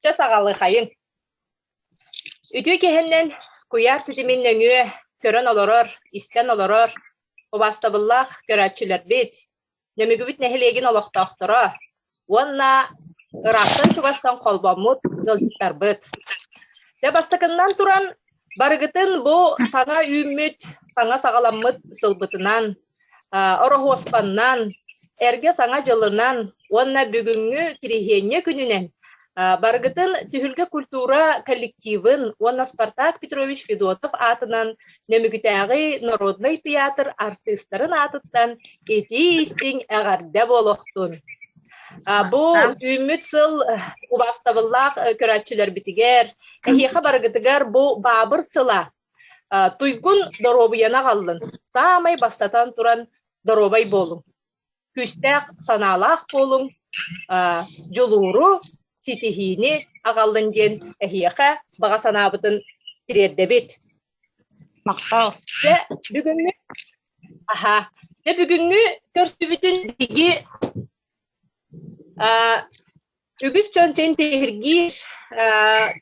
Чэ, саҕалыхайыҥ. Үтүө киэһэннэн куйаар ситимин нөҥүө көрөн олорор, истэн олорор убаастабыллаах көрөөччүлэрбит, Нөмүгүбүт нэһилиэгин олохтоохторо уонна ыраахтан чугастан холбоммут ыалдьыттарбыт. Дьэ, бастакыннан туран, барыгытын бу саҥа үүммүт, саҥа саҕаламмыт сылбытынан, ороһуоспаннан, эргэ саҥа дьылынан уонна бүгүҥҥү кириһиэнньэ күнүнэн барыгытын Түһүлгэ культура коллективын уонна Спартак Петрович Федотов аатынан Нөмүгүтээҕи народнай тыйаатыр артыыстарын аатыттан итии-истиҥ эҕэрдэ буолуохтун. Бу үүммүт сыл убаастабыллаах көрөөччүлэрбитигэр, эһиэхэ барыгытыгар бу баабыр сыла Туйгун доруобуйаны аҕаллын, саамай бастатан туран доруобай буолуҥ, күүстээх санаалаах буолуҥ, дьулууру, ситиһиини аҕаллын диэн эһиэхэ баҕа санаабытын тириэрдэбит. Махтал. Дьэ, бүгүҥҥү аһа, дьэ бүгүҥҥү көрсүбүтүн биһиги үгүс дьон тиһиргиир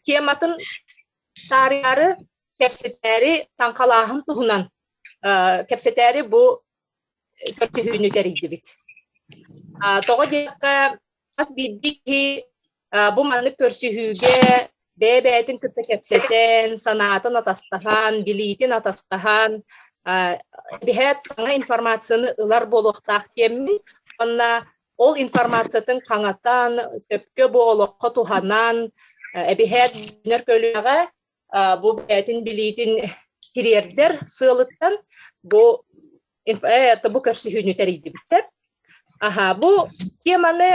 тематын таарыйаары кэпсэтээри таҥхалааһын туһунан кэпсэтээри бу көрсүһүүнү тэрийдибит. Тоҕо диэтэххэ, хас биирдии киһи бу маннык көрсүһүүгэ бэйэ-бэйэтин кытта кэпсэтэн, санаатын атастаһан, билиитин атастаһан, биһээт саҥа информацияны ылар буолуохтаах диэммин уонна Ол информациятын хаҥатан, сөпкө бу олоххо туһанан, эбиһээт дьинэр көлүөҕэ бу бэйэтин билиитин тириэрдэр сыалыттан бу бу көрсүһүүнү тэрийдибит сеп. Аха, бу теманы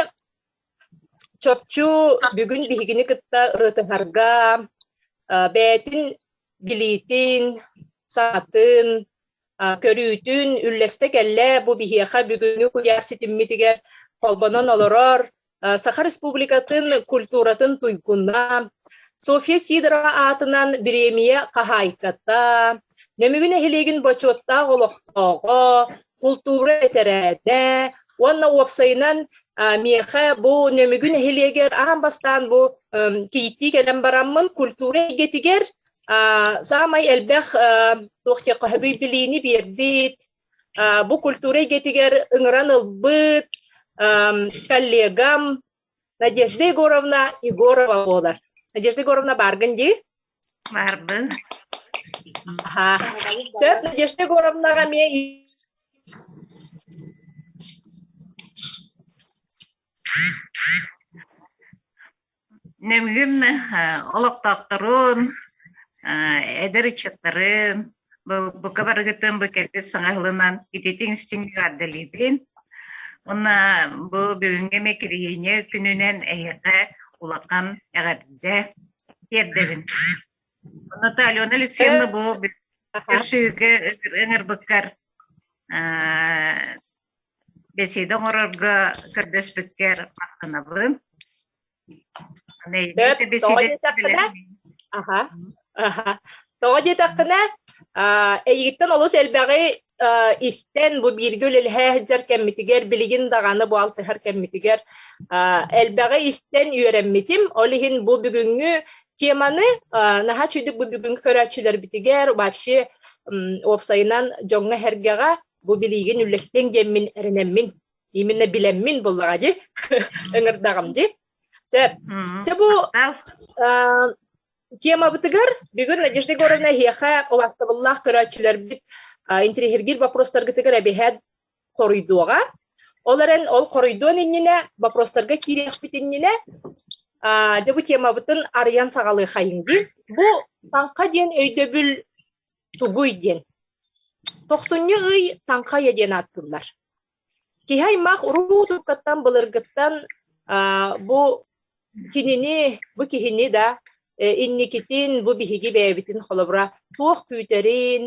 чопчу бүгүн биһигини кытта ырытыһарга бэйэтин билиитин, саатын, көрүүтүн, үллэстэ кэллэ бу биһиэхэ бүгүнү куйаар ситиммитигэр холбонон олорор Саха Республикатын культуратын туйгуна Софья Сидорова аатынан бириэмийэ хаһаайката, Нөмүгү нэһилиэгин бочуоттаах олохтооҕо, култуура этэрээтэ уонна уопсайынан миэхэ бу Нөмүгү нэһилиэгэр аан бастаан бу кииттии кэлэн бараммын культура эйгэтигэр Саамай элбэх туох диэххэ билиини биэрбит, бу культура эйгэтигэр ыҥыран ылбыт коллегам Надежда Егоровна Егорова буолар. Надежда Егоровна бааргын дии? Баарбын. Аха. Сөп, Надежда Егоровнаҕа эмиэ Нэмгин олохтоохторун, эдэр ыччаттарын, бука барыгытын бу кэлбит саҥа сылынан ититиҥ-истиҥ эҕэрдэлиибин. Уонна бу бүгүҥҥү микрорегион күнүнэн эһиэхэ улахан эҕэрдэ тиэрдэбин. Онно Алена Алексеевна бу көрсүһүүгэ ыҥырбыккар бэсиэдэ оҥорорго көрдөспүккэр махтанабын. Аха, аха. Тоҕо диэтэххинэ, эйигиттэн олус элбэҕи истэн, бу бииргэ үлэлэһэ сылдьар кэммитигэр, билигин даҕаны бу алтыһар кэммитигэр элбэҕи истэн үөрэммитим. Ол иһин бу бүгүҥҥү теманы наһаа үчүгдүк бу бүгүҥҥү көрөөччүлэрбитигэр вообще уопсайынан дьоҥҥо-сэргэҕэ бу билиигин үллэстиэҥ диэммин эрэнэммин именно билэммин буллаҕа дии ыҥырдаҕым дии сөп чэ бу темабытыгар бүгүн Надежда Егоровна эһиэхэ убастабыллаах көрөөччүлэрбит интириһиргиир боппуруостаргытыгар эбэһээт хоруйдуоҕа ол эрэн ол хоруйдуон иннинэ боппуруостарга киириэхпит иннинэ дьэ бу темабытын арыйан саҕалыахайыҥ дии бу таҥха диэн өйдөбүл тугуй диэн Тохсунньу ый Таҥхайа диэн ааттыыллар. Киһи аймах уруу туркаттан былыргыттан бу кинини, бу киһини да инникитин, бу биһиги бэйэбитин холобура туох күүтэрин,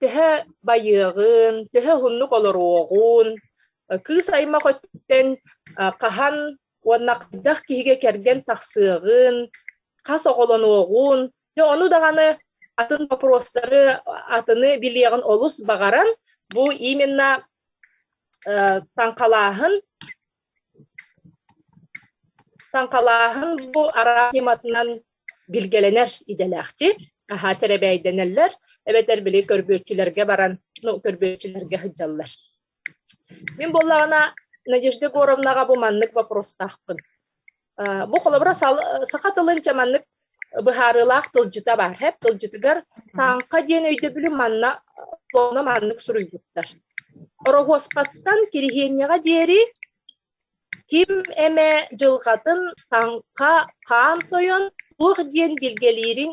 төһө байыаҕын, төһө уһуннук олоруоҕун, кыыс аймах өттүттэн хаһан уонна хайдах киһигэ кэргэн тахсыаҕын, хас оҕолонуоҕун, дьэ ону даҕаны атын бопуруостары атыны билиэҕин олус баҕаран бу именно э, таҥхалааһын таҥхалааһын бу араас тематынан билгэлэнэр идэлээхчи аhaa сэрэбэйдэнэллэр эбэтэр били көрбүөччүлэргэ баран ну көрбүөччүлэргэ сылдьаллар Мин буоллаҕына, Надежда Егоровнаҕа бу маннык бопуруостаахпын. Бу холобура саха тылынча маннык быһаарыылаах тылдьыта баар. ХЭП тылдьытыгар тааҥха диэн өйдөбүлү манна маннык суруйбуттар. Ороһуоспаттан Кириһиэнньэҕэ диэри Ким эмэ дьылҕатын таҥха хаан тойон туох диэн билгэлиириҥ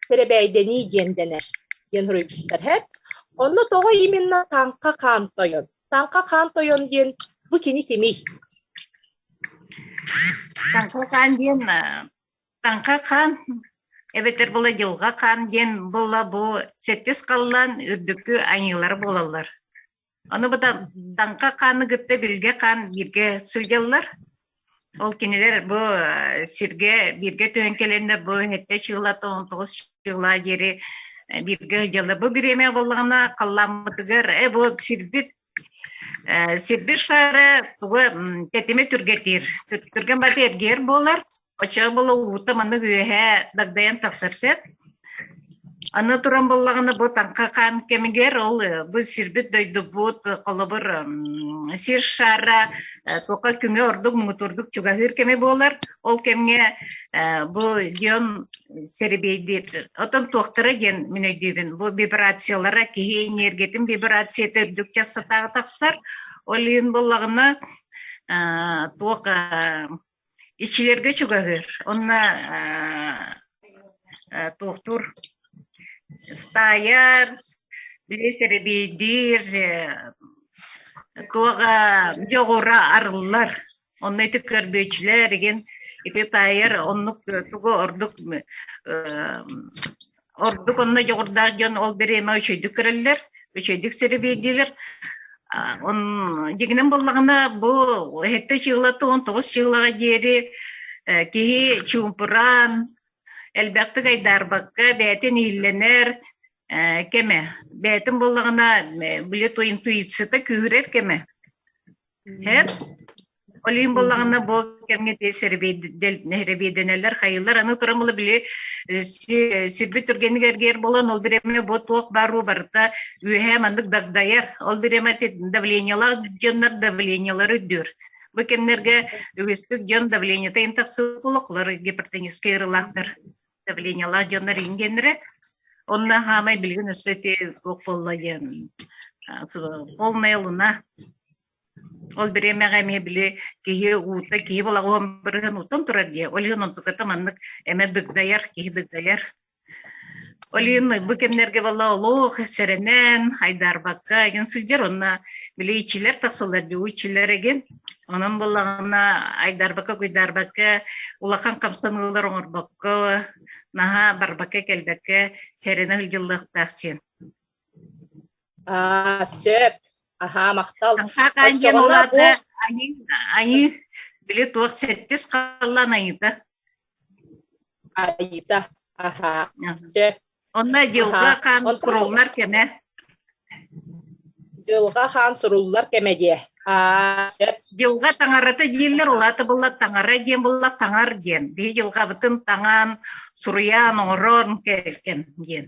сэрэбээйдэнии диэн дэнэр диэн суруйбуттар. Онно тоҕо именно таҥха хаан тойон? Таҥха хаан тойон диэн бу кини кимий? Таҥха хаан диэн таҥха хаан эбэтэр була дьылҕа хаан диэн була бу сэттис халлаан үрдүкү айыылара буолаллар. Аны бытаҥха хааны кытта билгэ хаан бииргэ сылдьаллар. Ол кинилэр бу сиргэ бииргэ түһэн кэлэннэр бу нette чыыла тоҕон тоҕус чыыла диэри бииргэ дьаллар. Бу бириэмэ боллаҕына халлааммытыгар э бу сирбит сирбит шаара тугу тэтими түргэтиир түргэн бата эргиэр буолар Очоох балылгыта манна үөһээ дагдайан тахсар сөп. Аны туран буллаҕына бу таҥха хаан кэмигэр ол бу сирбит дойдубут холобур сир шара тука күҥэ ордук муҥутурдук чугаһыыр кэми буолар ол кэмҥэ бу дион серебейдир отон туохтара диэн мин өйдүүбүн бу вибрациялара киһи энергиятын вибрацията үрдүк частотаҕа тахсар ол иһин буллаҕына туох Иччилэргэ чугаһыыр. Онно туохтуур стаайар, лиэс эрэбиэйдиир, туох дьоҕура арыллар. Онно ити көрбүөччүлэр, ити таайар оннук тугу ордук ордук онно дьоҕурдаах дьон ол бириэмэ үчүйдүк көрөллөр, үчүйдүк сирибийдилэр. Он дигинен буллаҕына бу эһэтте чыыла туон тоҕус чыылаҕа диэри киһи чуумпураан, элбэхтик айдаарбакка бээтин ииллэнэр кэмэ. Бээтин буллаҕына били интуицита күүрэр кэмэ. Һээп, олим буоллаҕына бу кэмҥэ тиэс сэрэбиэдэнэлэр хайылар аны туран була били сирбит түргэнник эргийэр буолан ол бириэмэ бу туох бааруу барыта үөһээ маннык дагдайар ол бириэмэ давлениялаах дьоннор давлениялары үрдүүр бу кэмнэргэ үгүстүк дьон давлениета тахсыбыт олохлор гипертоническай ырылаахтар давлениялаах дьоннор иин геннере онна хаамай билигин өссө те туох болла диэн полная луна ол бириэмэҕэ эмиэ били киһи уута киһи балаҕан бырыһын утан турар дии ол иһин онтуката маннык эмэ дыгдайар киһи дыгдайар ол иһин бу кэмнэргэ бала олох сэрэнэн айдаарбакка эгин сылдьар онно били ичилэр тахсалар дуу ичилэр эгин Онон буллаҕына айдарбакка-куйдаарбакка улахан хамсаныылар оҥорбокко, наһаа барбакка-кэлбэккэ тэринэ сылдьыллыахтаах диэн. Аа, сөп. Аһаа, махтал. Айыы, били туох сэттис халлаан айыыта. Айыта, аһаа, дьэ. Онно дьылҕа хаан суруллар кэмэ. Дьылҕа хаан суруллар кэмэ диэ. Аа, сөп. Дьылҕа таҥарата дииллэр, улаата былла таҥара диэн булла таҥар диэн. Биһи дьылҕабытын таҥаан, суруйаан, оҥороон кэлгэн диэн.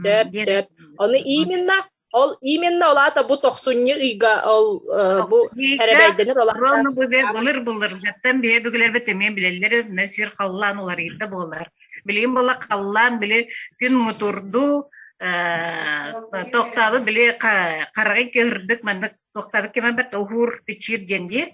Сөп, сөп. Ону именно ол именно ол аата бу тохсунньу ыйга ол э, бу эрэбэйдэнэр ол Ронну былыр былыр жаттан бие бүгүлэрбит эмиэ билэллэр мэ сир халлаан уларыйда буолар. Билигин бола халлаан били күн мутурду э, тохтабы били хараҕы көрдük маннык тохтабы кемэ бэрт ухуур бичир диэн диет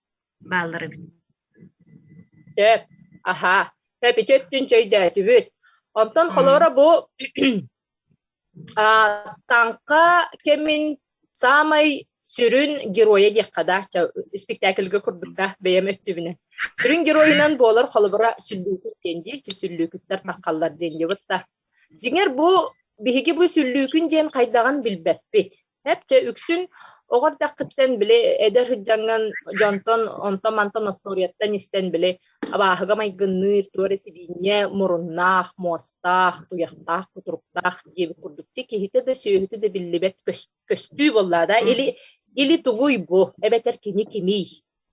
бааллар эбит Сөп. Аһаа, эпичи өттүн чэйдээтибит. Онтон холоро бу а, таҥха кэмин саамай сүрүн геройа диэххэ да, спектакльга курдук да бэйэм өттүбүнэн. Сүрүн геройунан буолар холобура сүллүүкүт диэн дии, сүллүүкүттэр таххаллар диэн диэбит да. Дьиҥэр бу биһиги бу сүллүүкүн диэн хайдаҕын билбэппит. Чэ, үксүн оҕо эрдэххиттэн били эдэр сыдьаҥҥын дьонтон онтон-мантан остуоруйаттан истэн били абааһыга майгынныыр туох эрэ сибиинньэ муруннаах, муостаах, туйахтаах, кутуруктаах диэбит курдук дьэ киһитэ да сүөһүтэ да биллибэт көстүү буоллаа да или или тугуй бу эбэтэр кини кимий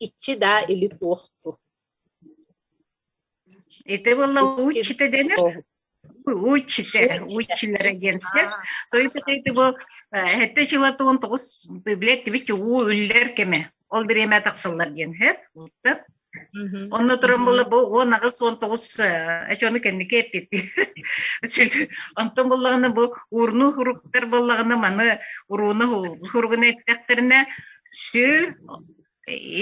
иччи даа или туох ту Это была учита дэнэр учите, училера диэн сир. То есть это был hätte жылатуон тоҕус билет тибит уу үллэр кеме. Ол бириэмэ тахсаллар диэн хэт уттат. Онно туран була бу он аҕыс он тоҕус эчөөнү кэнники эппиппи. Онтон буллаҕына бу урну хуруктар боллаҕына маны урууну хуругуна эттэхтэринэ сүү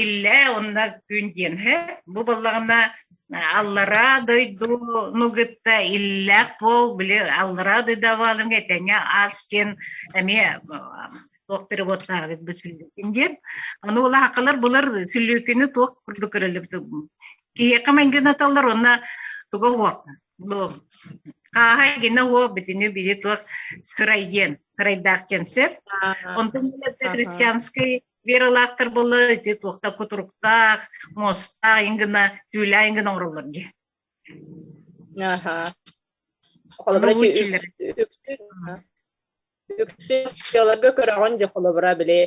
Иллэ онно күн диэн бу буоллаҕына аллараа дойдуну кытта иллээх бол били аллараа дойдуабааларга этэҥҥэ ас диэн эмиэ туох переводтаабыт бу сүллүкүн диэн аны улаахалар булар сүллүкүнү туох курдук көрөлөбүт киһиэхэ мангинаталлар онна туга уох хааһай гина уо бүтүнү били туох сырай диэн сырайдаах диэн сеп онтон христианскай Вералаахтар буолла ити туохта кутуруктаах, мостаах иҥ гына, түүлээн гына оҥороллор дии. Аха. Холобура үксүлэргэ көрөҕүн дьэ холобура били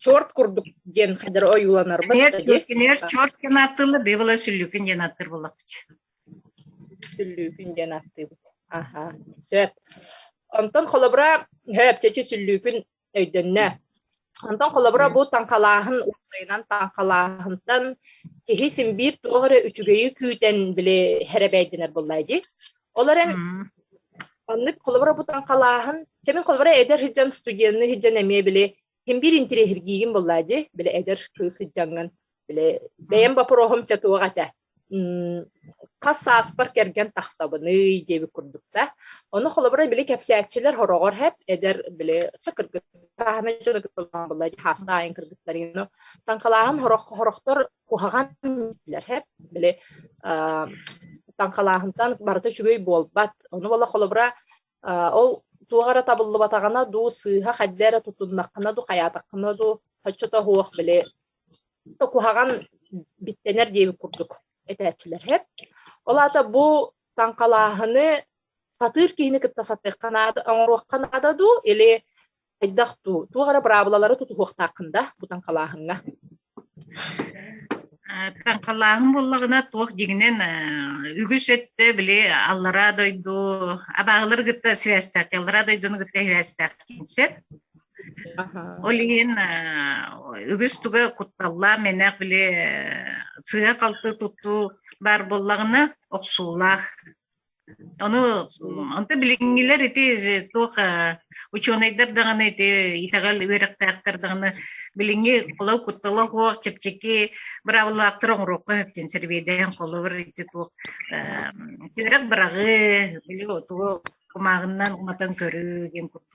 черт курдук диэн хайдар ойууланарбыт кинилэр черт диэн ааттыыллар быйбыла сүллүүкүн диэн ааттыыр буоллахпыт сүллүүкүн диэн ааттыыбыт аха сөп онтон холобура сөп чэчи сүллүүкүн өйдөннө. Онтон холобура бу таҥхалааһын уопсайынан таҥхалааһынтан киһи симбиир туох эрэ үчүгэйи күүтэн били хэрэбэйдэнэр буллай дии. Олор эн оннук холобура бу таҥхалааһын чэмин холобура эдэр сыдьан студенты сыдьан эмиэ били химбиир интириэһиргиигин буллай дии били эдэр кыыс сыдьаҥын били бэйэм боппуруоһум ча туох этэ хас сааспар кэргэн тахсабыный диэбит курдук да ону холобура били кэпсээччилэр хороҕор хэп эдэр били кыргыттааһына дьоно булла хаастан аайын кыргыттарыыны таҥхалааһын хорох хорохтор куһаҕан дииллэр хэп били таҥхалааһынтан барыта үчүгэй буолбат ону бола холобура ол туох эрэ табыллыбатаҕына дуу сыыһа хайда эрэ тутуннаххына дуу хайаатаххына дуу хоччото суох били куһаҕан биттэнэр диэби курдук этээччилэр Ол аата бу таҥхалааһыны сатыыр киһини кытта сатыахха наада, оҥоруохха наада дуу, или хайдах дуу, туох эрэ быраабылалары тутуһуохтааххын да бу таҥхалааһыҥҥа? Таҥхалааһын буоллаҕына туох дигинэн үгүс өттө били аллараа дойду абааһылары кытта сибээстээх, аллараа дойдуну кытта сибээстээх киинсеп Ол иһин үгүс туга кутталлаах менах били сыа-халты туттуу бар буллаҕына охсуулаах. Ону онто билиҥҥилэр ити туох учуонайдар даҕаны ити итэҕэл үөрэхтээхтэр даҕаны билиҥҥи холо куттала хуох чэпчэки быраабыллаахтар оҥоруохха сөптүн сэрбиэдээн холобур ити туох түөрэх быраҕыы били тугу кумааҕыннан уматан көрүү диэн курдук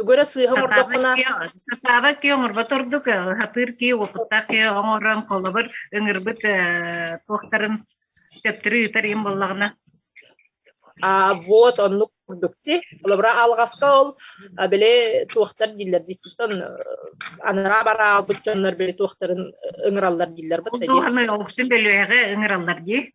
Үгөрө сыыһа оҥордоххуна... Сатаабат киһи оҥорбот ордук, сатыыр киһи уопуттаах киһи оҥорон, холобур, ыҥырбыт туохтарын төптөрү ыытар им боллаҕына. А, вот оннук курдук ти. Олобра алгаска ол били туохтар дииллэр диттон анараа бараал бут дьоннор били туохтарын ыҥыраллар дииллэр бут. Ол туохны ол үшін бөлүөҕэ ыҥыраллар дии.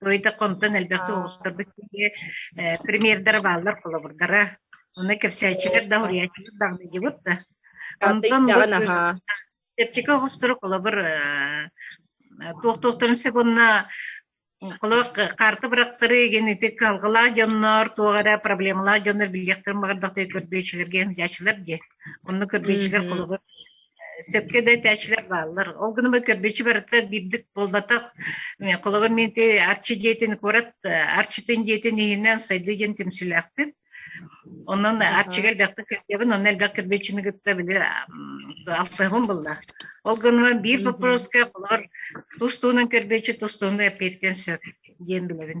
Ройдокомтон элбэхтик оҕустарбыт киһи примердара бааллар холобурдара. Оны кэпсээччилэр да, уруйааччылар да аныдьыбыт да. Онтон Септика оҕустуру холобур туох-туохтарын сегунна холобур карта бырактары ген ити калгылаа дьоннор туох эрэ проблемалаах дьоннор билиэхтэрин баҕардахтыы көрбүөччүлэргэ хомдьааччылар дии. Онно көрбүөччүлэр холобур сөпкө да этээччилэр бааллар. Ол гынан көрбүчү барыта биирдик буолбатах. Холобур, мен те Арчи диэтин куорат Арчитын диэтин иһинэн сайдыы диэн түмсүүлээхпит. Онон Арчига элбэхтик кэрдебин, онно элбэх кирбэччини кытта били алсыһым булла. Ол гынан биир вопроска холор тустуунан кирбэччи тустууну эппиэттен сөп диэн билэбин.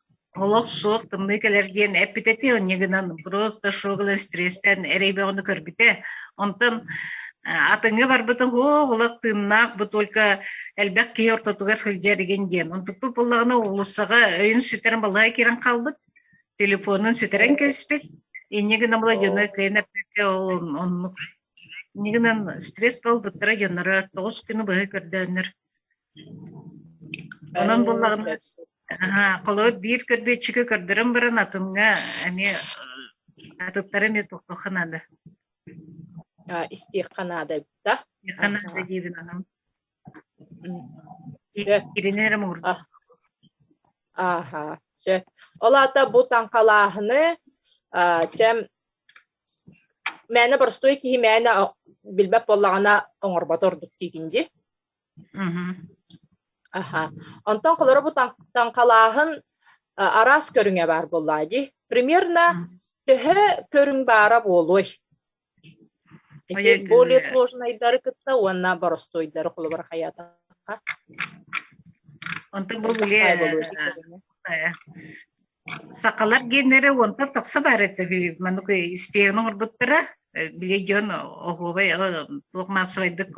олох суох тымныы кэлэр диэн эппит этэ онньо гынан просто шугылы стресстэн эрэйбэҕini көрбүтэ онтон атыҥы барбытын оо олох тыыннаах бу только элбэх киһи ортотугар сылдьар игин диэн онтукпут буллаҕына уулуссаҕа өйүн сүтэрэн балаҕа киирэн хаалбыт телефонун сүтэрэн кэбиспит инньэ гына була дьоно кыйынаппакка оннук инньэ гынан стресс буолбуттара дьонноро тоҕус күнү быһа көрдөөннөр Онон буллаҕым холоот биир көрбүөччүгү көрдөрөн баран атымҥа эмиэ атыттары эмиэ тохтоххо наада. Истиэххэ наадата. Истиэххэ наада диэбин анам. Кирини эрэ муурда. Аха. Сөп. Ол аата бу таҥхалааһыны чэм мээнэ боростуой киһи мээнэ билбэт буоллаҕына оҥорбот ордук диигин ди. Аха. Онтон холоробут таҥхалааһын араас көрүҥэ баар буоллаа дии. Примерно төһө көрүҥ баара буолуой? Ити более сложнайдары кытта уонна боростуойдары холобур хайаатахха. Онтон бу более Сахалар геннэрэ уонтан тахса баар этэ үһү. Маннык испиэн оҥорбуттара. Били дьон оһуобай туох маассабайдык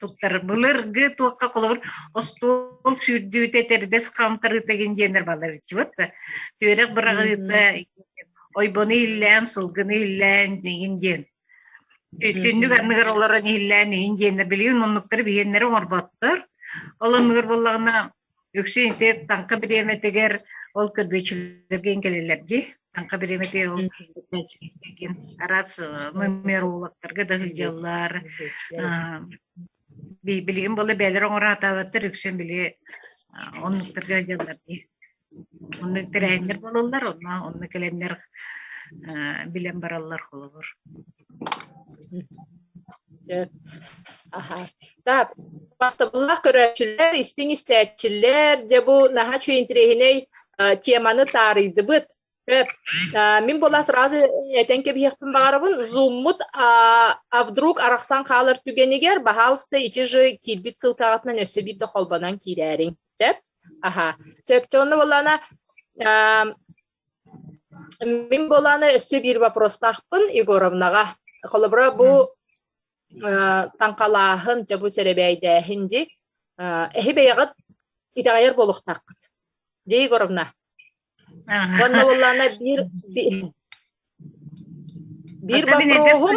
туттар былыргы туохха холобур остуол сүүрдүүтэ тэрбэс хаамтарыыта гин диэннэр балар иччибит да түөрэх быраҕыыта ойбону иллээн сылгыны иллээн дигин диэн түннүк анныгар олорон иллээн иһин диэннэр билигин муннуктары биһиэннэрэ оҥорботтор ол анныгар буоллаҕына Өксөй ити таҥха бириэмэтигэр ол көрбүөччүлэргин кэлэллэр дии. Таҥха бириэмэтигэр ол көрбүөччүлэргин араас нумерологтарга да сылдьаллар. Билигин була бээлэр оҥороотаабаттар үксүн били оннуктарга дьаллар дии. Оннук тэрээһиннэр бололлар, онно онну кэлэннэр билэн бараллар холобур. Так, бастабыллаах көрөөччүлэр, истиҥ истээччилэр, дьэ бу наһаа үчүгэй интириэһинэй теманы таарыйдыбыт. Эп, мин була сразу этен кэбиһиэхпин баҕарабын зуммут а вдруг арахсан хаалар түгэнигэр баһаалыста ити же киирбит сылтаҕытынан өссө биирдэ холбонон киирээриҥ сөп аха сөпкө онно буоллаана Мин буолааны өссө биир вопростаахпын Егоровнаҕа. Холобура бу таҥхалааһын, дьабу сэрэбээйдээһин дьи эһи бэйэҕит итэҕэйэр буолуохтааххыт. Дьэ, Егоровна. Уонна буоллаана биир биир вопроһун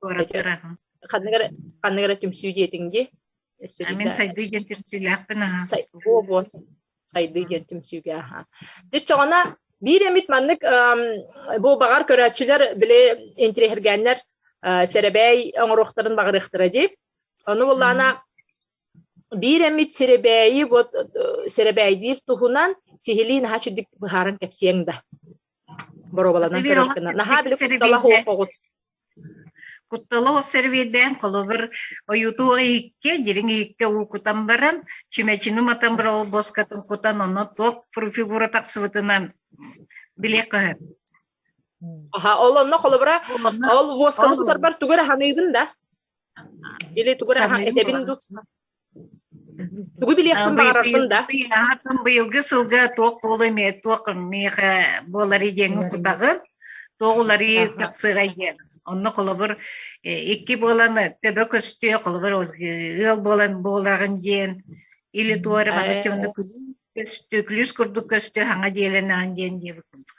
Куораты ырахан. Ханныгар ханныгар түмсүү диэтиҥ дии? Мин сайдыы диэн түмсүүлээхпин аhaa. О бу сайдыы диэн түмсүүгэ аhaa. Дьиччоҕона биир эмит маннык бу баҕар көрөөччүлэр били интириэһиргээннэр сэрэбээй оҥоруохтарын баҕарыахтара дии. Ону буллаана биир эмит сэрэбээйи вот э, сэрэбээйдиир туһунан сиһилии наһаа чудик быһааран кэпсиэҥ да. боруобаланан көрөр гына наһаа били куттала суох оҕус куттала ол сервейдээн холобур ойууту иһикке дириҥ иһикке уукутан баран чүмэчини матан бара болбоскатын кутан онно туох фигура тахсыбытынан билиэх көһө аха ол онно холобура ол восканы тутарбар тугу аһаныыгын да или тугу аһа этэбин дук Тугу билиэхпин баҕарарбын да? Быйылгы сылга туох буолуо эмиэ, туох миэхэ буоларый диэн кутаҕын, туох уларыы тахсыгай диэн. Онно холобур икки буолан төбө көстүө, холобур ыал буолан буолаҕын диэн, или туора баҕаччы көстүү, күлүүс курдук көстүө, хаҥа диэлэнэҕин диэн диэбит курдук.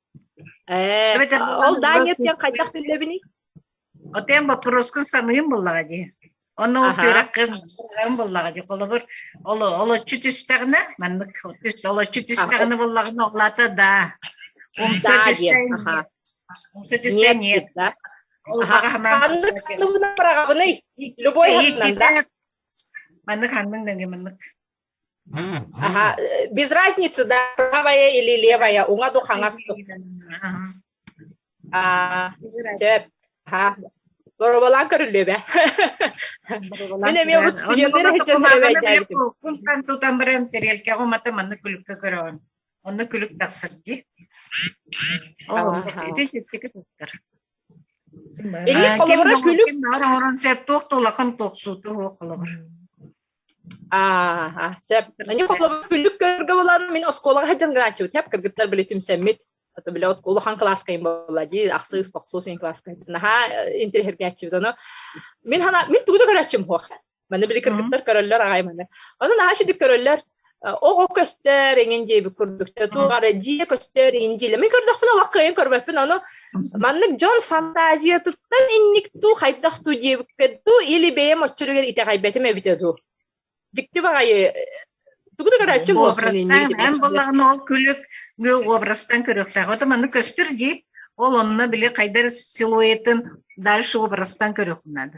Э, ол Даня диэн хайдах биллэбиний? Отем боппуруоскун саныым буллаҕа дии. Ону үтүрэххин буллаҕа дии. Холобур, олоччу түстэҕинэ, маннык олоччу түстэҕинэ буллаҕына олата да. Умса түстээн умса түстээн нет. Ханнык ханныгынан быраҕабыный? Любой ханынан да. Маннык ханнык дэнгэ маннык. Аха, без разницы, да, правая или левая, уҥа ду хаҥас ду. Аа, сөп. Аха. Боробалаан көрүллүө бэ. Мин эмиэ урут студентка сочиствовать Кумтан тутан баран тарелке умата манна күлүккэ көрөҕүн. Онно күлүк тахсар ди. Ити чистики туттар. Инник холобура күлүк. Оҥорон сөп туох тулахан туохсууту холобур. Аа, сөп. Аны холобур бүлүк көргө булан мин оскуолаҕа сылдьан гынааччыбыт. Сэп кыргыттар били түмсэммит. Ата били оскуола хаан кылааскайын буолла дии, ахсыс, тохсус ин кылааскай. Наһаа интеллигентчибит ону. Мин хана мин тугу да көрөччүм хуох. Маны били кыргыттар көрөллөр аҕай маны. Ону наһаа шидик көрөллөр. Оҕо көстөр эҥин диэбит курдук тугар дьиэ көстөр эҥин диэли мин көрдөхпүнэ олох кыайан көрбөппүн ону маннык дьон фантазиятыттан инник дуу хайдах дуу диэбиккэ дуу или бэйэм оччоругар итэҕэйбэтим эбитэ дуу дьикти баҕайы тугу да көрөөччү буолбун эн буоллаҕына ол күлүк образтан көрүөхтээх ото маннык көстөр дии ол онно били хайдар силуэтин дальше образтан көрүөххүн наада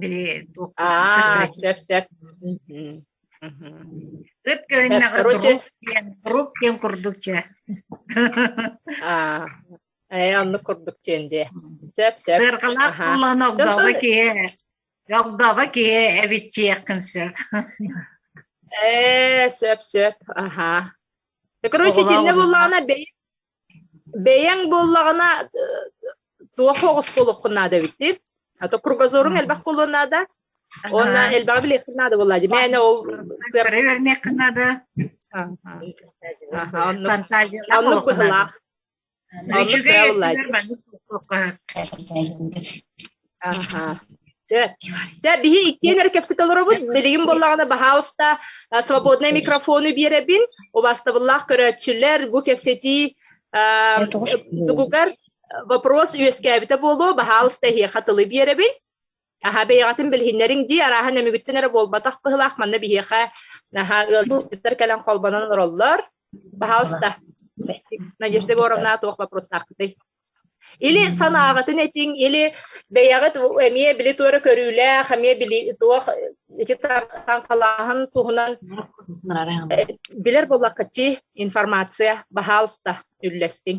Били А, сөп, сөп. Ыт көрүннэҕэ рук диэн, рук диэн курдук дьэ. А, э, оннук курдук диэн дии. Сөп, сөп. Сырҕалаах куллаан огдоҕо киһи, огдоҕо киһи эбиччиэххин сөп. Ээ, сөп, сөп. Аха. Так, короче, тинне буллаана бэйи бэйэҥ буоллаҕына туох оҕосколоххун наада эбитий а то кругозоруҥ элбэх буолуон наада уонна элбэҕи билиэххин наада буолла дии мээнэ ол сыарҕа наада оннук быһылаах Аха. Дьэ, дьэ, биһи иккиэн эрэ кэпсэтэ олоробут. Билигин буоллаҕына баһаалыста свободнай микрофону биэрэбин. Убастабыллаах көрөөччүлэр бу кэпсэтии тугугар вопрос үөскээбитэ буолуо, баһаалыста эһиэхэ тылы биэрэбин. Аһа бэйэҕитин билиһиннэриҥ дии, арааһан эмигүттэн эрэ буолбатах быһылаах манна биһиэхэ наһаа ыалдьыттар кэлэн холбонон олороллор. Пожалуйста, Надежда Егоровна, туох вопроснааххытый? Или санааҕытын этиҥ, или бэйэҕит эмиэ били туора көрүүлээх, эмиэ били туох ити таҥхалааһын туһунан билэр буоллаххытчы информация баһаалыста үллэстиҥ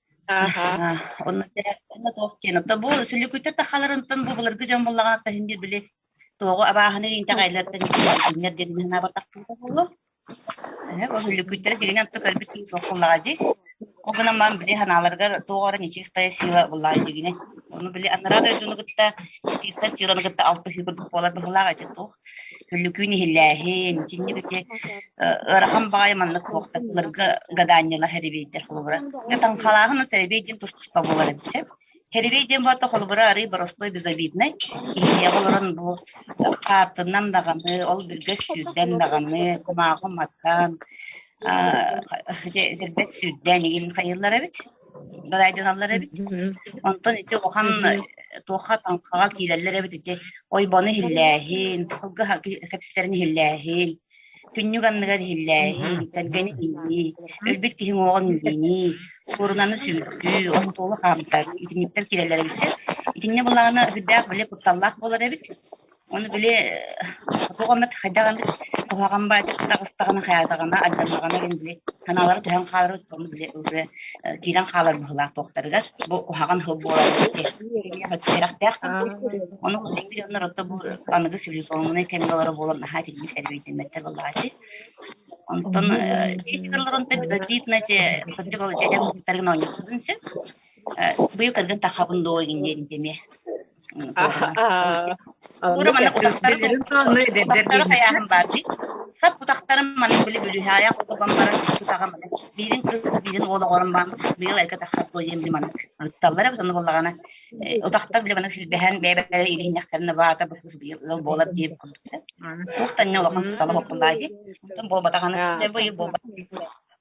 Онно дьэ онно туох диэн оттон бу сүлүкүйтэр тахаларынтан бу былыргы дьон буллаҕа иһин бир били тоҕо абааһыны интэҕэйлэртэн иһиннэр диэн иһин анаабатахпыта буолуо. Эһэ бу сүлүкүйтэрэ диринэн ту көрбүт киһи суох буллаҕа дии. Ол гынан мам били ханааларыгар туох эрэ нечистая сила буллаҕа дигине. Ону били анараа дойдуну кытта нечистая силаны кытта алтыһыы курдук буолар быһылаах эти туох. Өлүкүүн иһиллээһин, итинник ити ыарахан баҕайы маннык суохтакларга гадаанньалар хэрибейдэр холобура. Таҥхалааһын сэрбей диэн тустуспа буолар эбитэ. Херебей диэн баата холобура арый боростой безобиднай. Иһиэҕэ олорон бу хаартыннан даҕаны, ол бүргэ сүүрдэн даҕаны, кумаахы маттан, дэрбэт сүүрдэн игин хайыллар эбит. далайдыналлар эбит онтон ити улахан туохха таҥхаҕа киирэллэр эбит ити ойбону иһиллээһин сылгы кэпсэтэрин иһиллээһин күннүк анныгар иһиллээһин сэргэни иилии өлбүт киһиҥ уоҕун иилиинии суорунаны сүүрдүү остуолу хаамтар итинниктэр киирэллэр эбит итиннэ булаана үрдээх били кутталлаах буолар эбит Оны били туох эмит хайдах эмит куһаҕан баатар таҕыстаҕына хайаатаҕына алдьаннаҕына гин били санаалары түһэн хааларыт ону били уже киирэн хаалар быһылаах туохтарыгар бу куһаҕан сыл буолар ону сикти дьоннор отто бу аныгы цивилизованный кэмге олоро буолан наһаа тиийбит эрбийтиммэттэр балаати онтон дииталларон диитначе кырдык ол дядям куттаргын оонньуутун сөп быйыл кыргын тахабын доо гин диэн деме хайааһын баар дии сап утахтарым маны били бүлүһаая отуган баран тутаҕа маны биирин кыс биирин уол оҕорум баан быйыл айка таххат буойем ли маны ырытталлара бу сонно боллагана утахтар биле маны силбэһэн бэйбэйэ илиһиннэхтэрин баата бу кыс быйыл ыал болар диэм туох таньна лохан тала боппуллаа ди тон болбатаханы быйыл болбат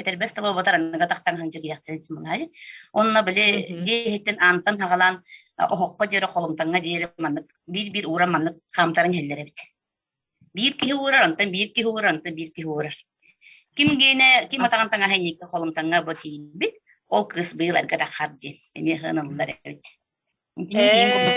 Этэрбэс таба батар аныга тахтан сылдьа киһэхтэн симылаһай. Онно били дьиэ иһиттэн аантан хагалаан оһоххо диэри холумтаҥҥа диэри маннык биир-биир ууран маннык хаамтаран иһэллэр эбит. Биир киһи уурар, онтон биир киһи уурар, онтон биир киһи уурар. Ким гиэнэ, ким атаҕан таҥаһа инники холумтаҥҥа бу тиийбит, ол кыыс быйыл эргэ тахар диэн эмиэ сыаналылар эбит. Итини киин курдук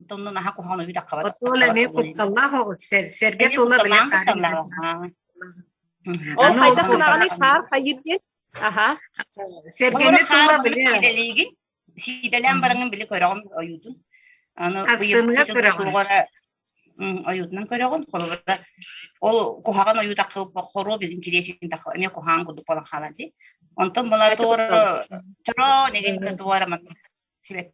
Онтон оннун аһа куһаҕан үүтэх хабата. Отуон эмиэ кутталлаах сэргэ тула Ол хайда сураҕаны хаар хайыр диэн. Аха. Сэргэни тула биле. Сиидэлээн бараҥын биле көрөҕүм ойуутун. Аны ыйытыга көрөҕүн. Ойуутунан көрөҕүн. Холобура ол куһаҕан ойуутахха хоруоп интересин тахха эмиэ куһаҕан курдук болан хаалар ди. Онтон бала туора төрөө нэгинте туора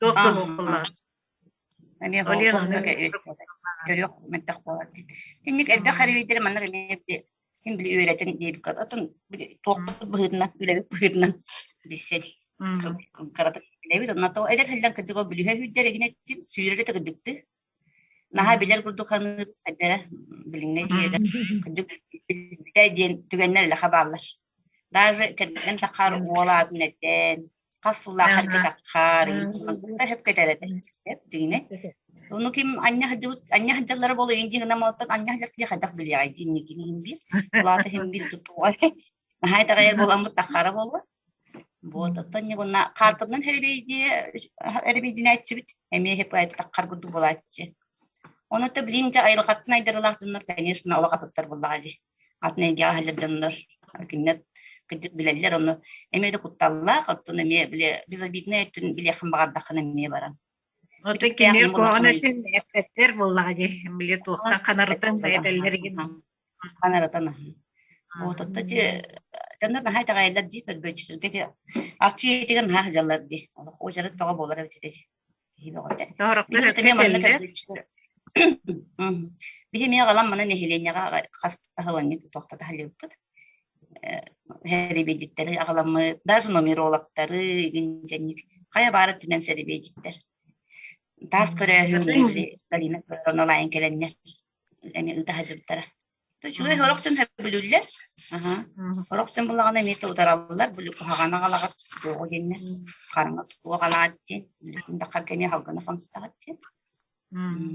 туох да буоллар Олен аны төрүөх мөлтөх буолар Тинник элбэх харибийтери маннар эмиэ били ким били үөрэтин диэбиккэ отун били туохпут быһыытынан үлэбит быһыытынан билсэр кыратык билэбит онно то эдэр сылдан кытыгы бүлүһэ сүүрэрэ тыгыдыктыы Наһаа билэр курдук саныыр, хайдара, билиҥҥэ дьиэдэр кырдьык билбитэ диэн түгэннэр элэхэ бааллар. Даже кэргэн таххар уол аатын этэн, хас сыллаахар кэтаххар, сөп кэтэр этэ. Сөп, дигине. Ону ким аньа сылдьыбыт, аньа сылдьаллара буолу индиҥ ынам оттон аньа сылдьар киһи хайдах билиэҕэй диин никини хим биир, улаата хим биир тутуга. Наһаа таҕайар буоламмыт таххара буолуо. Вот оттон ньыгынна хаартыннан эрибийдиэ эрибийдинээччибит эмиэ хиппайтаххар курдук буолааччы онута билим дьэ айылҕаттан айдарылаах дьоннор конечно олох атыттар буоллаҕа дии атын эйгэҕэ сылдьар дьоннор кинилэр кырдьык билэллэр ону эмиэ да кутталлаах оттон эмиэ били безобиднай өттүн билиэххин баҕардаххына эмиэ баран Отут кинилэр куһаҕан өссө эппэттэр буоллаҕа дии били туохтан ханарытын этэллэригин Хантан арытан аһыы. Вот отто ти дьоннор наһаа итэҕэйэллэр дии көрбөөччүлэргэ дии аччы иитигин наһаа сыдьаллар дии олох уочарат бөҕө буолара эбитэ дии киһи бөҕөтө биһиги Тоһороктор эмиэ манна кэллэ. көрбөөччүлэр биһи эмиэ аҕалан маны нэһилиэнньэҕэ хас таһыланньык тохтото сылдьыбыппыт сэрэбиэдьиттэри аҕаламмыт даже нумерологтары игинчэнник хайа баар өттүнэн сэрэбиэдьиттэр таас көрөөһүн Галина Петровна Лайын кэлэннэр эмиэ ыта сылдьыбыттара. Үчүгэй сорох дьон сөбүлүүллэр. Сорох дьон булаҕына эмиэ утараллар, куһаҕан аҕалаҕыт туоҕу диэннэр. Хараҥа суох алаат диэн, үлэтин таххарга эмиэ халгана сомстаҕыт диэн.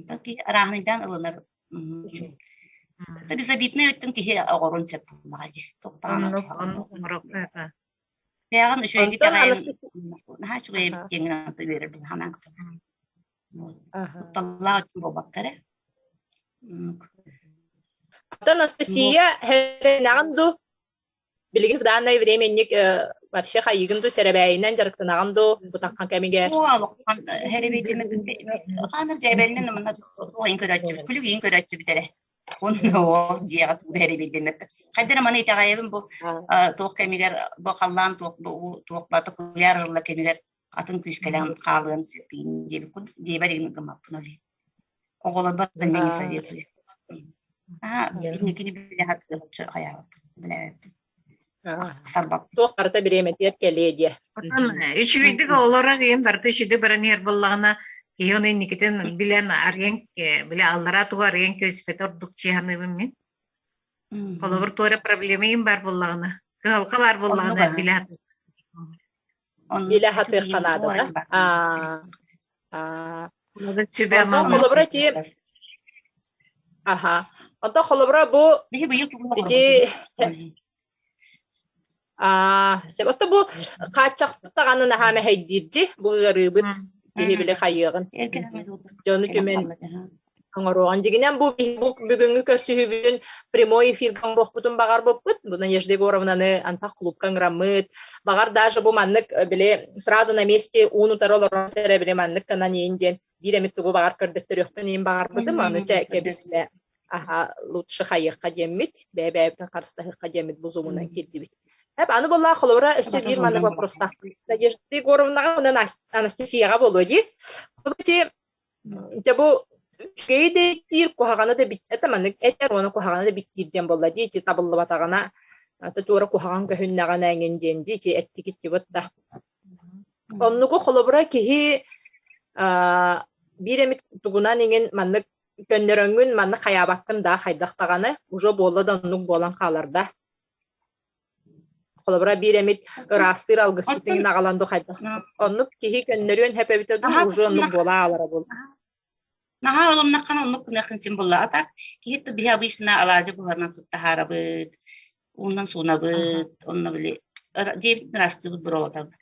Таки арааһынайдаан ылынар. Безобиднай өттүн киһи оҕорун сөп булаҕа дии. Бэҕэн үчүгэйдик аҕайын наһаа үчүгэй диэн гынан үөрэр булаҕынан. Кутталлаах буолбакка эрэ. Оттон Анастасия хэлэнэҕин дуу? Билигин в данное время инник вообще хайыгын дуу сэрэбээйинэн дьарыктанаҕын дуу бутанхан кэмигэр? Хана дьээбэннэн манна туохайын көрөөччүбүт, күлүгийин көрөөччүбүт эрэ. Онно дьиэҕэ туута эрэбиирдэммэт. Хайдана маны итэҕэйэбин бу туох кэмигэр бу халлаан туох бу туох бата куляр кэмигэр атын күүскэлээн хаалыам сиппиин диэбит диэбэт гын гыммаппын ол оҕолорбор да мен советую аа инникини билэ хатыырчы хайаабыппын билээбиппин туох барыта бириэмэтигэр кэлиэ диэ үчүгэйдик олорор иэн барыта үчүгэй бараныар буллаҕына киһи ону инникитин билэн арыйан билэ аллараа туга арыйан кэспэт ордук чианыыбын мин холобур туора проблема ин бар буллаҕына кыһалка баар буллаҕына билэ Или аһатыахха наада да? Аа, аа, Сүбэ холобура ти Ага. Ото холобура бу ити а ото бу хааччахтаҕаны наһаа мэһэйдиир ди бу ыарыыбыт киһи били хайыаҕын дьону түмэн оҥоруоҕун. Дьигинэн бу бүгүҥҥү көрсүһүүбүтүн прямой эфирга оҥоруохпутун баҕарбыппыт. Буна Нежда Егоровнаны антах клубка ыҥыраммыт. Баҕар даже бу маннык били сразу на месте уун-утары олорор эрэ били маннык гынан иин диэн биир эмит тугу баҕар көрдөттөрүөхпүн иин баҕарбытым. Аны чэ кэбисбэ аха лучше хайыахха диэммит, бэйэ-бэйэбитин харыстаһыахха диэммит бузумунан кирдибит. Эп аны была холобура өссө биир маннык вопростаах Надежда Егоровнаға мына Анастасияға болуо дии. Дьэ бу үчүгэйи да эттиир, куһаҕаны да бүттэ да маннык этэр уонна куһаҕаны да бүттиир диэн буолла дии, ити табыллыбатаҕына аты туора куһаҕан көһүннэҕинэ эҥин диэн дии, ити эттигиттибит да. Оннуку холобура киһи биир эмит тугунан иҥин маннык көннөрөҥҥүн, маннык хайаабаккын да хайдах даҕаны, уже буолла да оннук буолан хаалар да. Холобура биир эмит ыраастыыр алгысчытын наҕалан дух хайдах оннук киһи көннөрүөн сөп эбитэ дуу уже оннук буола аалара буол наһаа ылымнаххына оннук гыныаххын син булла атак киһи ту биһи обычно алаадьы буһанан суттаһаарабыт уунан суунабыт онно били дии ыраастыыбыт буруолатарбыт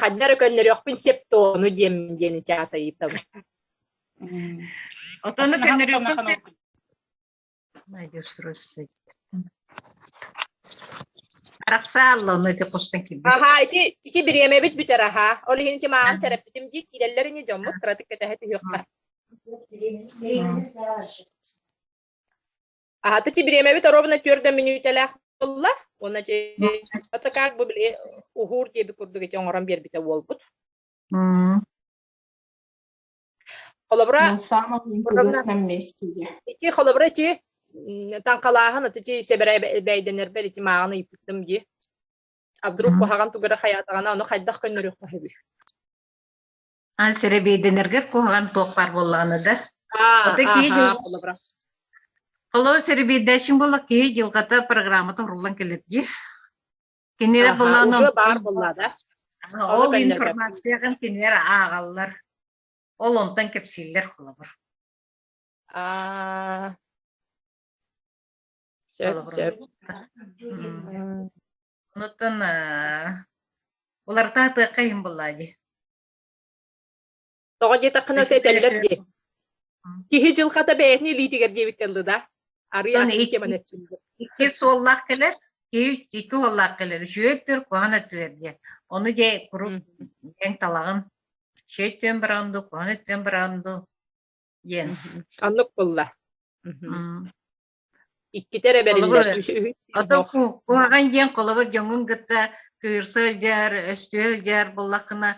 ханна эрэ көннөрүөхпүн сеп тону диэм диэн чаатайытабын отону көннөрүөхпүн Арахсааллааны ти хостан кирби. Аха, ити ити бириэмэбит бүтэр аха. Ол иһин ки маан сереппитим дии киирэллэр ини дьоммут кыратык кэтэһэ түһүөхпэ. Аһата ти бириэмэбит оробуна түөрдэ мүнүүтэлээх буолла. Уонна это как бы били ухуур диэби курдук ити оҥорон биэрбитэ уолбут. Холобура ити холобура ити танкалааһын аты ти себера бэйденербер ити мааны иппиттым ди. А вдруг куһаҕан тугара хаятаҕана ону хайдах көннөрүөх таһыбыр. А сэрэбиэйдэнэргэр куһаҕан туох баар буоллаҕына да. Ото киһи Холо сэрэбиэйдэшиҥ болла киһи дьылҕата программата уруллан кэлэр дии. Кинилэр булаан уже бар болла да. Ол информацияҕын кинилэр аагаллар. Ол онтон кэпсииллэр холобур. Аа. Сөп, сөп. Онуттан уларытаа тыахха иһин буллаа дии Тоҕо диэтэххинэ этэллэр дии киһи дьылҕата бэйэтин илиитигэр диэбиттэн дылы да арыйан икки суоллаах кэлэр киһи икки уоллаах кэлэр үшүөттүр куһан өттүлэр диэн ону дьэ куруук диэн талаҕын шөйттүөн бараҕын ду куһан өттүөн бараҕын ду диэн оннук булла Иккитэ эрэ бэриллэр. Оттон куһаҕан диэн холобур дьоҥҥун кытта кыырса сылдьар, өстө сылдьар буоллаххына,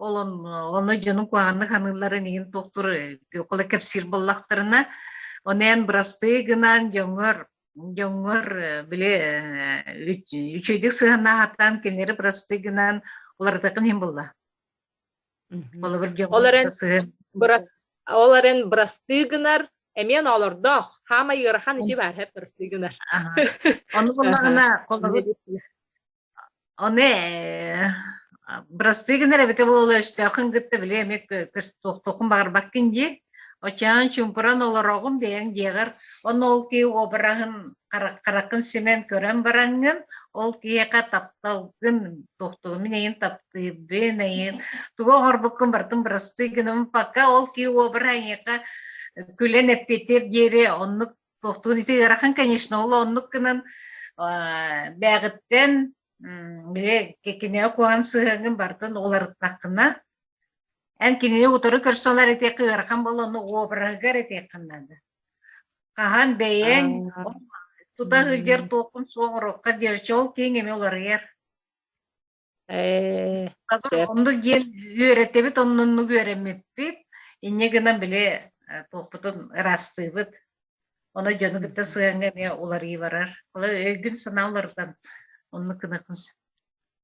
олон ону дьонун куһаҕаннык саныылларын иһин туохтур около кэпсиир буоллахтарына, онен бырастыы гынан дьоҥҥор дьоҥҥор били үчүгэйдик сыһанаахаттан кинилэри бырастыы гынан уларытатын иһин булла. Холобур, ол эрэн брас ол эрэн бырастыы гынар эмиэ оноолордоох хаамай ыарахан ичи баарһап бырастыы гынар ону буллаҕына холобур ону бырастыы гынар эбитэ буолуо өстөөхүн кытта били эмиэ туохтуоххун баҕарбаккын дии Оччоон чуумпуран олороҕун бэйэҥ дьиэҕэр, онно ол киһи уобараһын хараххын симэн көрөн бараҥҥын, ол киһиэхэ тапталгын, туохтугун эйин таптыырбын, эйин тугу оҥорбуккун бартын бырастыы гынным, пока ол киһи уобараһа эйиэхэ күлэн эппиэтиэр диэри оннук туохтуун ити ыарахан конечно ол оннук гынан бээҕиттэн кинигэ куһан сыһыаҥҥын бартын уларыттаххына Эн кинини утары көрсө ылар этиэххэ ыарахан боллонно обраһыгар этиэххин наада. Хаһан бэйэҥ тута сылдьар туоххун суох ороххо диэрчи ол тииҥ эми уларыйар. Э, Оннук диэн үөрэттэбит оннуннук үөрэммиппит. Инньэ гынан били туохпутун ыраастыыбыт. Ону дьону кытта сыһаҥҥа эмиэ уларыы барар. Ол өйгүн санаа уларытан оннук гынахын сөп.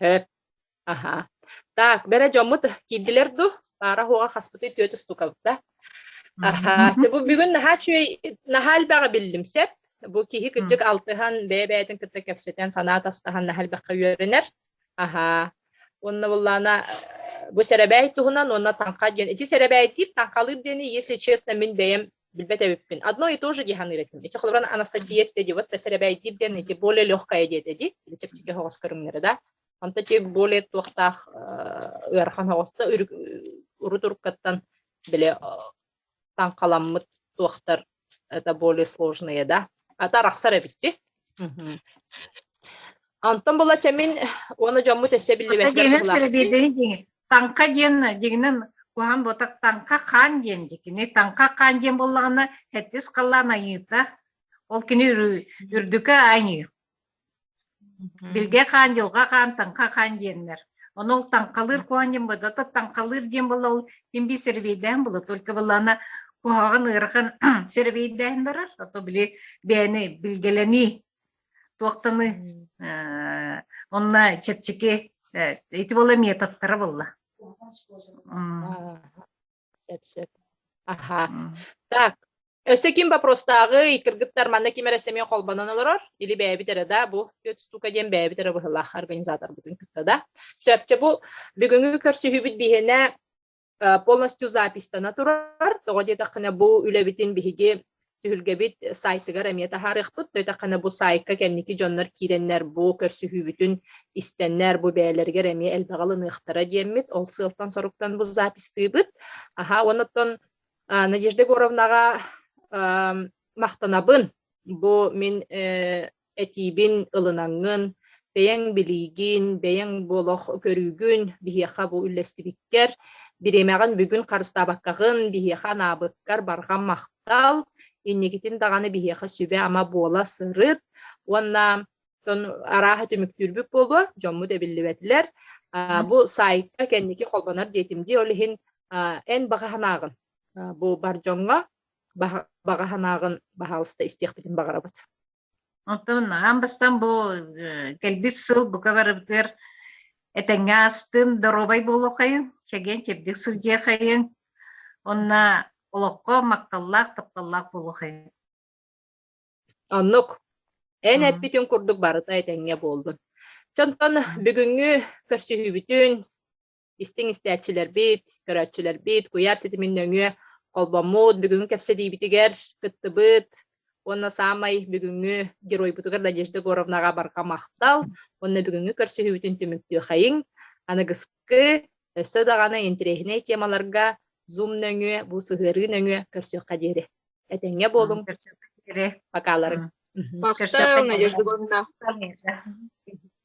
Эт, аһа. Так, бэрэ дьоммут киирдилэр ду, паара оһоҕо хаспытый түөт устукабыта. Аха, бу бүгүн наһаа үчүгэй, наһаа элбэҕи биллим сеп. Бу киһи кырдьык алтыһан, бэйэ-бэйэтин кытта кэпсэтэн, санаа атастаһан наһаа элбэххэ үөрэнэр. Аха. Уонна буллаана бу сэрэбээй туһунан уонна таҥха диэн. Ити сэрэбэйтиир, таҥхалыыр диэни, если честно, мин бэйэм билбэт эбиппин одно и то же диэханныыр этим ити холобуран анастасия диди вот сэрэбэйдиир диэн ити более легкое диэтэ ди чэпчэки хоҕос көрүҥнэрэ да онто тик более туохтаах ыарахан хоҕоста урут уруккаттан биле таҥхаламмыт туохтар это более сложные да ата арахсар эбитти Антон была чамин уона жоммут эссе биллибэттер Таҥха диэн дьиҥинэн куһаҕан буотах таҥха хаан диэн дьэ кини таҥха хаан диэн буоллаҕына эттис халлаан айыыта ол кини үрдүкэ айыы билгэ хаан дьылҕа хаан таҥха хаан диэннэр ону ол таҥхалыыр куһаан диэн буолла то таҥхалыыр диэн буолла ол тимби серебейдээн буолла только буоллаана куһаҕан ыарахан серебейдээн барар а то били бэйэни билгэлэнии туохтаны онно чэпчэки ити була методтара булла сөп аха так өссө ким вопростааҕый кыргыттар манна ким эрэ сэмиэ холбонон олорор или бэйэбит эрэ да бу штука диэн бэйэбит эрэ быһылаах организаторбытын кытта да сөпчө бу бүгүҥҥү көрсүһүүбүт биһиэнэ полностью записьтана турар тоҕо диэтэххинэ бу үлэбитин биһиги түһүлгэбит сайтыгар эмиэ таһаарыахпыт төйтэххинэ бу сайтка кэнники дьоннор киирэннэр бу көрсүһүүбүтүн истэннэр бу бэйэлэригэр эмиэ элбэҕи ылыныахтара диэммит ол сыалтан соруктан бу запистыыбыт аха оннуттан надежда егоровнаҕа махтанабын бу мин этиибин ылынаҥҥын, бэйэҥ билиигин, бэйэҥ бу олох көрүүгүн биһиэхэ бу үллэстибиккэр, бириэмэҕин бүгүн харыстаабаккаҕын биһиэхэ анаабыккар барҕан махтал. Инникитин даҕаны биһиэхэ сүбэ-ама буола сырыт уонна арааһа түмүктүүрбүт буолуо, дьоммут эбиллибэтилэр. Бу саайтка кэнники холбонор диэтим дии, ол иһин эн баҕа санааҕын бу бар дьоҥҥо баҕа, баҕа санааҕын баһаалыста истиэхпитин баҕарабыт. Оттон аан бастан бу кэлбит сыл бука барыбытыгар этэҥҥэ астын, доруобай буолуохайын, чэгиэн чэбдик сылдьыахайын, онно олоххо махталлаах, тапталлаах буолуохайын. Оннук. Эн эппитин курдук барыта этэҥҥэ буоллун. Чонтон бүгүҥҥү көрсүһүүбүтүн истиҥ истээччилэрбит, көрөөччүлэрбит, куйаар ситимин нөҥүө холбоммут бүгүҥҥү кэпсэтиибитигэр кыттыбыт уонна саамай бүгүҥҥү геройбутугар Надежда Егоровнаҕа барҕа махтал уонна бүгүҥҥү көрсүһүүбүтүн түмүктүөххэйиҥ. Аныгыскы өссө даҕаны интэриэһинэй темаларга Zoom нөҥүө, бу сыһыарыы нөҥүө көрсүөххэ диэри. Этэҥҥэ буолуҥ. Пока-ларың. Махтал, Надежда Егоровна.